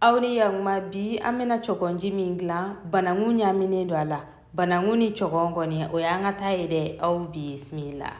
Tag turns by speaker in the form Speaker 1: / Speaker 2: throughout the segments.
Speaker 1: aw ni yakuma bi an bɛna cɔgɔnji min dilan bananku ɲaminen don a la bananku ni cɔgɔn kɔni o y'an ka ta ye dɛ aw bisimila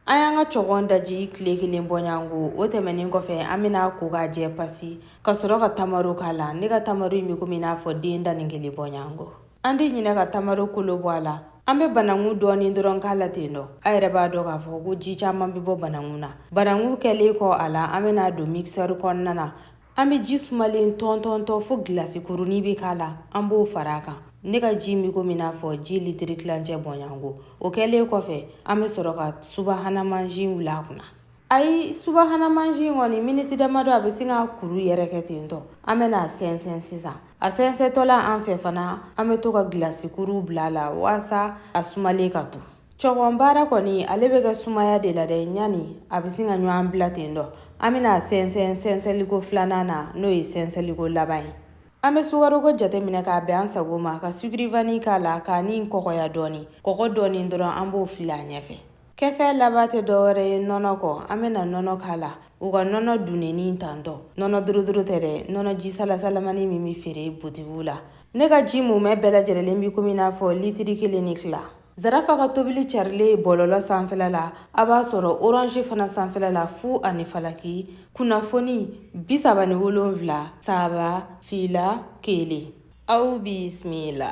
Speaker 1: an y'an ka cɔgɔn daji tile kelen bɔɲango o tɛmɛnin kɔfɛ an bɛn'a ko k'a jɛ pasi ka sɔrɔ ka tamaro k'a la ne ka tamaro in bɛ komi i n'a fɔ den tan ni kelen bɔɲango an tɛ ɲinɛ ka tamaro kolo bɔ a la an bɛ bananku dɔɔnin dɔrɔn k'a la ten dɔ a yɛrɛ b'a dɔn k'a fɔ ko ji caman bɛ bɔ bananku na bananku kɛlen kɔ a la an bɛn'a don mixɛri kɔnɔna na an bɛ ji sumalen tɔntɔntɔ fo gilasi kurunin bɛ k'a la an b'o fara a kan ne ka ji min komi n'a fɔ ji litiri tilancɛ bɔɲango o kɛlen kɔfɛ an bɛ sɔrɔ ka subahana mansin wuli a kunna ayi subahana mansin kɔni miniti damadɔ a bɛ sin ka kuru yɛrɛ kɛ ten dɔ an bɛna a sɛnsɛn sisan a sɛnsɛntɔla an fɛ fana an bɛ to ka gilasi kuruw bila a la walasa a sumalen ka to cɔgɔn baara kɔni ale bɛ kɛ sumaya de la dɛ ɲani a bɛ sin ka ɲɔgɔn bila ten dɔ an bɛna a sɛnsɛn sɛnsɛnliko filanan na n'o ye sɛnsɛnliko laban ye an bɛ sukaroko jateminɛ k'a bɛn an sago ma ka sucre vanillé k'a la k'a ni kɔgɔya dɔɔni kɔgɔ dɔɔni dɔrɔn an b'o fili a ɲɛfɛ kɛfɛn laban tɛ dɔwɛrɛ ye nɔnɔ kɔ an bɛna nɔnɔ k'a la u ka nɔnɔ dunenni tantɔ nɔnɔ dorotoro tɛ dɛ nɔnɔ ji salasalamani min bɛ feere butigiw la ne ka ji mumɛ bɛɛ lajɛlen bɛ komi n'a fɔ litiri kelen ni tila zarafa ka tobili carilen bɔlɔlɔ sanfɛla la a b'a sɔrɔ orange fana sanfɛla la fu ani falaki kunnafoni bisaba ni wolonfila saba fila kelen aw bisimila